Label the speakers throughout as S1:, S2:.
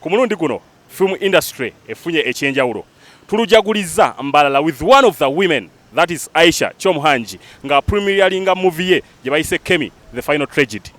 S1: Ku mulundi guno film industry efunye ekyenjawulo tulujagulizza Mbalala with one of the women that is Aisha Chomhanji nga premieringa movie ye gye bayise Kemi the final tragedy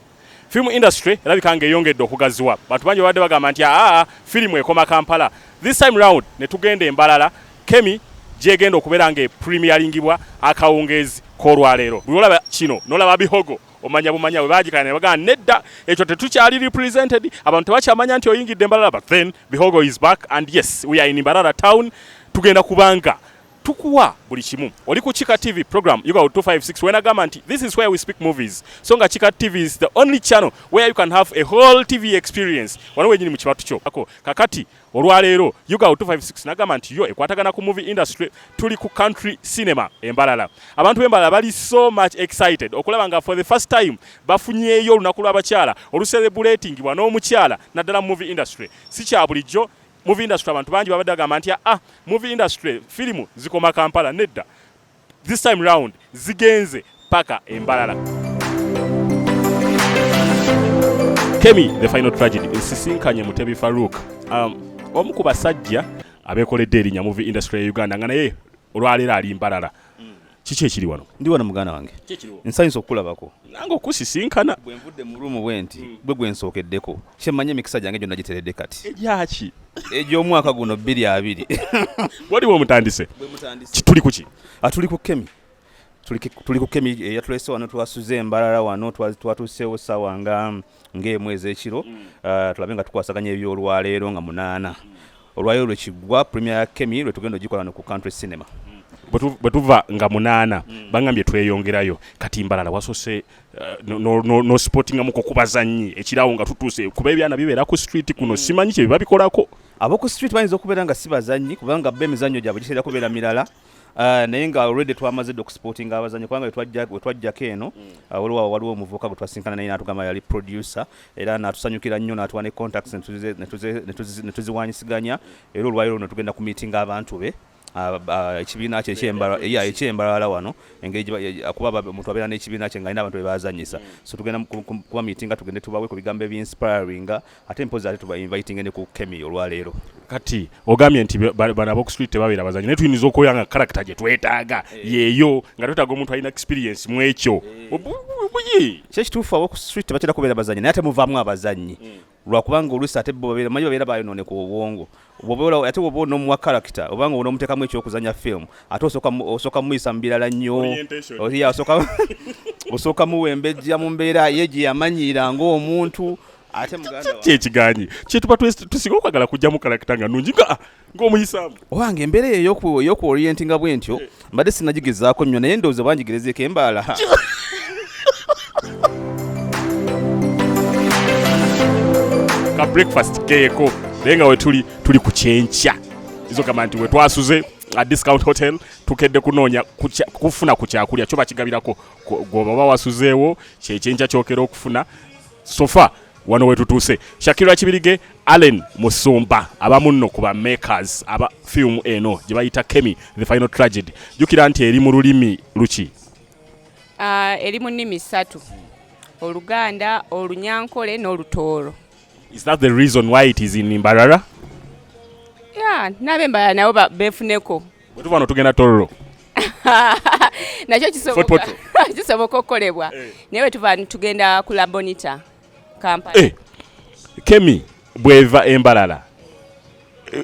S1: film industry erabika nga eyongedde okugaziwa bantu bangi babadde bagamba nti aa firimu ekoma kampala this time round ne tugenda embalala kemi gyegenda okubeera nga epremiyalingibwa akawungeezi k'olwaleero buli olaba kino nolaba bihogo omanya bumanya bwe baagikana ne bagamba nedda ekyo tetukyali represented abantu tebakyamanya nti oyingidde mbalala but then bihogo is back and yes we are in mbarara town tugenda kubanga tukuwa buli kimu oli ku kika tv program yuga 256 wenagamba nti this is where we speak movies so nga kika tv is the only channel where you can have a whole tv experience wano wenyini mu kibatu kyo kakati Olwaleero Ugao 256 nagamba nti yo ekwatagana ku movie industry tuli ku country cinema embalala. Abantu b'embalala bali so much excited okulaba nga for the first time bafunyeeyo olunaku lw'abakyala oluserebuletingibwa n'omukyala naddala mu movie industry. Si kya bulijjo movie industry abantu bangi babadde bagamba nti ah movie industry firimu zikoma Kampala nedda. This time round zigenze paka embalala. Kemi the final tragedy nsisinkanye Mutebi Farouk um, omu ku basajja abekoledde erinya movie industry ya Uganda nga naye olwaleero ali mbalala mm. kiki ekiri wano ndi wano muganda wange nsanyusa okukulabako nange okusisinkana bwenvudde mu ruumu bwenti mm. bwe gwensookeddeko kyemmanyi emikisa gyange gyonna giteredde kati egyaki egy'omwaka guno bbiri abiri waliwo omutandise tuli kuki atuli ah, ku kemi tuli ku kemi eh, yatulese wano twasuze embalala wano twatuuseewo sawa nga ng'emu ez'ekiro mm. ah, tulabe nga tukwasaganya ebyolwaleero nga munaana mm. olwayo lwe kigwa premier ya kemi lwe tugenda ogikola no ku country cinema mm. bwe tuva nga munaana bangambye tweyongerayo kati mbalala wasose Eh, nosipotingamu ku kubazannyi ekiraawo nga tutuuse kuba ebyana bibeera ku street kuno mm. simanyi kye biba bikolako ab'oku street bayinza okubeera nga si bazannyi kubanga bo emizannyo gyabwe giseera kubeera mirala eh, naye nga already twamaze dde okusipotinga abazanyi kubanga wetwajjako eno mm. eh, waliwo waliwo omuvubuka gwe twasinkana naye natugamba yali producer era natusanyukira nnyo natuwa ne contacts netuziwanyisiganya era olwaliro netugenda ku meetinga abantu be ekibiina kye ekyembalala wano engeri kuba omuntu abeera n'ekibiina kye nga alina abantu bebazanyisa so tugenda kuba mitinga tugende tubawe ku bigambo ebyinspiringa ate mpozi ate tubainvitinge ne ku kemi olwaleero kati ogambye nti bano aboku street tebabeera bazanyi naye tuyinza okubeera nga karakita gye twetaaga eh. yeeyo nga twetaaga omuntu alina experience mu ekyo eh. buyi kyekituufu aboku street tebatera kubeera bazanyi naye ate muvaamu abazanyi hmm. lwakubanga oluusi ate bo babeera manyi babeera bayonooneka obwongo ate woba onomuwa karakita oba nga onomutekamu ekyokuzanya film ate osooka muyisa mu birala nnyo osooka muwa embejja mu mbeera ye gye yamanyiira ngaomuntu ate muganda kyekiganyi kyetuba tusinga okwagala kujjamu karakita nga nungi nga ah, ng'omuyisaamu owange embeera eyo eyokuorientinga bwentyo eh. mbadde sinagigezaako nnyo naye ndowooza bangigerezeeko embaala ka breakfast keeko naye nga wetuli tuli ku kyenkya izogamba nti wetwasuze a discount hotel tukedde kunoonya kufuna ku kyakulya kyo bakigabirako gwoba oba wasuzeewo kyekyenkya kyokera okufuna sofa wano wetutuuse shakira kibirige allen musumba abamu nno ku bamakers aba firimu eno gye bayita kemi the final tragedy jjukira nti eri mu lulimi luki ah,
S2: eri mu nnimi ssatu oluganda olunyankole n'olutooro is that the
S1: reason why it is in mbarara
S2: ya nabe mbarara nabo befuneko Bwe tuva wano tugenda
S1: Tororo.
S2: Nakyo kisoboka kisoboka okukolebwa eh. naye bwe tuva tugenda ku La Bonita Kampala. Eh. Kemi
S1: bweva embalala eh,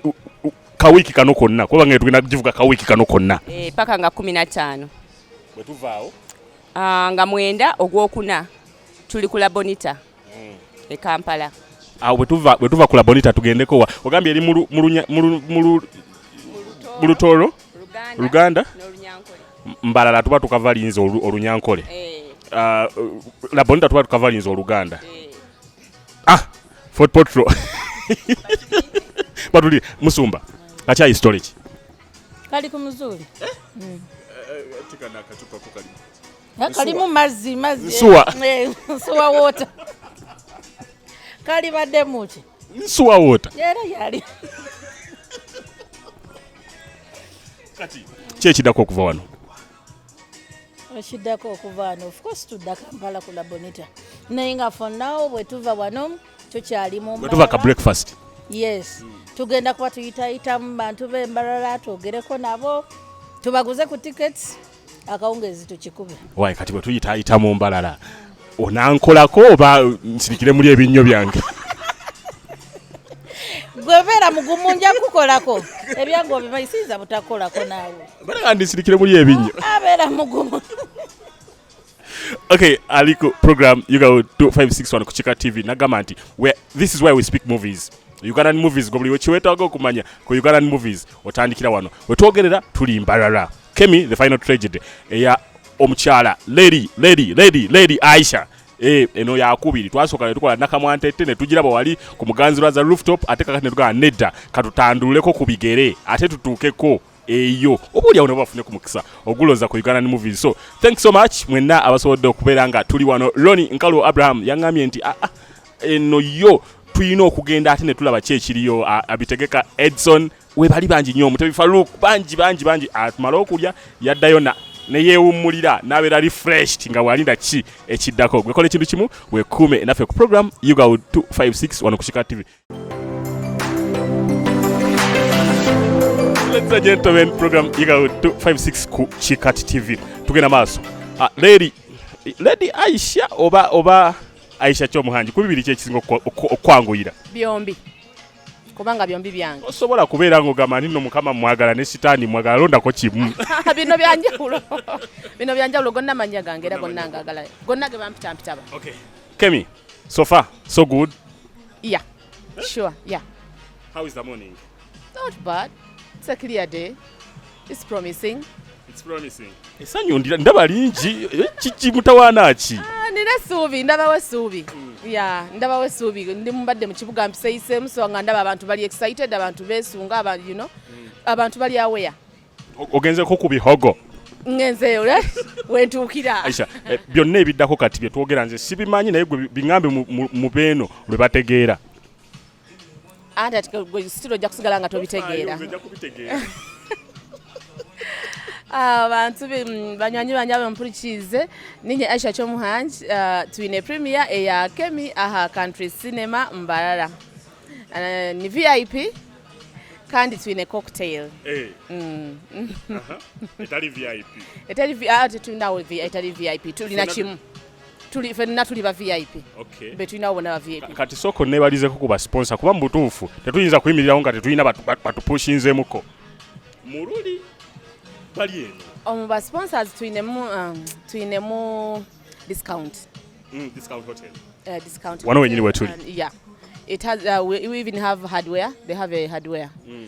S1: kawiki kano konna kuba nga tugenda kugivuga kawiki kano konna eh, paka nga kumi na
S2: ttaano bwe tuvaawo
S1: ah, nga
S2: mwenda ogwokuna tuli ku labonita e Kampala awo bwetuva
S1: bwetuva ku labonita tugendeko wa ogambye eri mulu mulunya mulu mulu mulutoro luganda
S2: mbalala tuba
S1: tukavalinza olunyankole eh. ah, labonita tuba tukavalinza oluganda eh. ah fort potro batuli musumba akyayi storage kali
S3: ku muzuri
S1: eh? mm. kalimu mazzi
S3: mazzi nsuwa eh,
S1: nsuwa water
S3: kali badde muki nsuwa water
S1: era yali kati kyekidako okuva wano
S3: ekiddako okuva wano of course tudda kampala ku labonita naye nga for now bwetuva wano tukyali mubwetuva ka breakfast
S1: yes
S3: tugenda kuba tuyitayitamu bantu bembalala twogereko nabo tubaguze ku tickets akawungeezi tukikube wayi kati bwe tuyitaayita
S1: mu mbalala onankolako oba nsirikire muli ebinnyo byange
S3: gwebeera mugumu nja kukolako ebyange obimanyi siyinza butakolako naawe balaga ndisirikire muli
S1: ebinnyo abeera mugumu okay ali ku program uga 2561 ku kika tv nagamba nti this is why we speak movies ugandan movies gobuli wekiwetaga okumanya ku ugandan movies otandikira wano wetwogerera tuli mbalala kemi the final tragedy eya omukyala lady lady lady lady aisha Eh, eno yakubiri twasooka netukola nakamwantette netugiraba wali ku muganzi lwaza rooftop ate kakati netugamba nedda katutanduleko ku bigere ate tutuukeko eyo oba olyawo nabo bafune ku mukisa oguloza ku ugandan movies so thanks so much mwenna abasobodde okubeera nga tuli wano roni nkalu abraham yaŋambye nti aa ah, ah, eno yo tulina okugenda ate netulaba ki ekiriyo abitegeka edson we bali bangi nnyo omutebi Farouk bangi bangi bangi atumala okulya yaddayo na ne yeewummulira n'abeera refreshed nga bw'alinda ki ekiddako gwekola ekintu kimu wekuume naffe ku program uga 256 wano ku kika tv Ladies and gentlemen, program uga 256 ku kikati tv tugenda maaso ah, lady lady aisha oba oba aisha kyomuhangi ku bibiri kyekisinga okwanguyira byombi
S2: kubanga byombi byange osobola kubeera ng'ogamba
S1: nino mukama mwagala ne sitaani mwagala londako kimu bino byanjawulo
S2: bino byanjawulo gonna mannya gange era gonna ngagala gonna ge bampitampitaba okay. kemi
S1: so far so good yeah
S2: sure yeah how is the
S1: morning not bad
S2: it's a clear day It's promising. It's promising.
S1: Esanyu ndira ndaba lingi eh, kiki mutawana ki? Ah, nina suubi
S2: ndaba we suubi. Mm. Yeah, ndaba we suubi ndi mubadde mu kibuga mpiseyise muso nga ndaba abantu bali excited abantu besunga abantu you know. Mm. Abantu bali aware. Ogenze ko
S1: ku bihogo. ngenzeyo
S2: eh? wentuukira aisha eh,
S1: byonna ebiddako kati byetwogera nze sibimanyi naye gwe biŋambe mu beeno lwe bategeera
S2: ate sitira ojja kusigala nga tobitegeera abantu ah, mm, banywanyi banje abampurikize ninye aisha kyomuhangi ah, twine premier eya kemi aha country cinema mbarara ah, ni vip kandi twine cocktail eh.
S1: mm. etali vip etali vip tulina
S2: etali vip tulina kimu tuli fenna tuli ba vip okay. betulina abo bona ba vip kati soko nebalizeko
S1: ku basponsa kuba mubutuufu tetuyinza kuyimirirawo nga tetulina batupushinzemuko mululi bali eno omu ba sponsors tulinemu
S2: um, tulinemu discount mm, discount
S1: hotel uh, discount
S2: wano wenyini wetuli
S1: um, yeah
S2: it has uh, we, we even have hardware they have a hardware mm.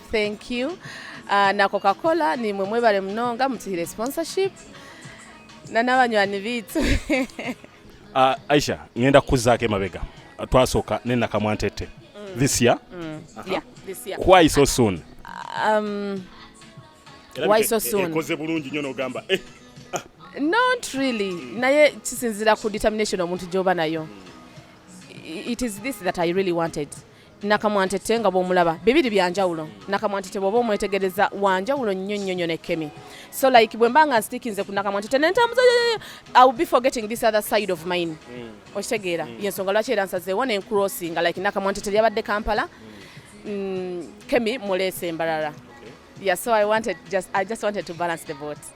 S2: Thank you. Uh, na Coca-Cola ni mwe mwebale mnonga mutihire sponsorship na n'abanywani bitu
S1: uh, Aisha ngenda kuzaako emabega twasooka ne Nakamwa Ntete mm. this year mm. uh -huh. yeah, this
S2: year why so soon
S1: um,
S2: why so soon ekoze bulungi nnyo n'ogamba
S1: eh. Ah.
S2: not really mm. naye kisinzira ku determination omuntu gyoba nayo mm. it is this that i really wanted nakamwantette nga bwomulaba bibiri byanjawulo nakamwantette bwoba omwetegereza wanjawulo nnyo nnyo nnyo nekemi so like bwemba nga nstikinze ku nakamwantette nentambuza i will be forgetting this other side of mine mm. okitegeera mm. yensonga lwaki era nsazeewo nencrossinga like nakamwantette lyabadde kampala mm, kemi muleese embalala okay. yeah so i wanted just, i just wanted to balance the boat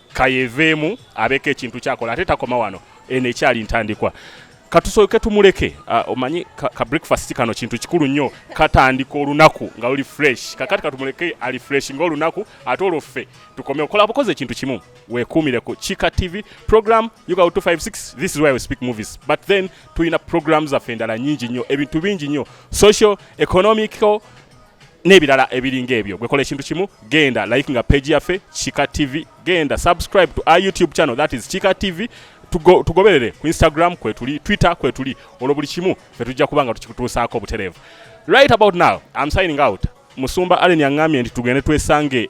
S1: kayeveemu abeeko ekintu kyakola ate takoma wano eno ekyali ntandikwa katusooke tumuleke uh, omanyi ka, ka breakfast kano kintu kikulu nnyo katandika olunaku nga luli fresh kakati katumuleke ali fresh nga olunaku ate olwo ffe tukome okola bukozi ekintu kimu wekuumire ku kika tv program uga 256 this is why we speak movies but then tulina program zaffe endala nyingi nnyo ebintu bingi nnyo social economical n'ebirala ebiringa ebyo gwekola ekintu kimu genda like nga page yaffe kika tv genda subscribe to our youtube channel that is kika tv tugoberere ku instagram kwetuli twitter kwetuli olwo buli kimu fe tujja kuba nga tukikutuusaako obutereevu right about now am signing out musumba allen yaŋŋambye nti tugende twesange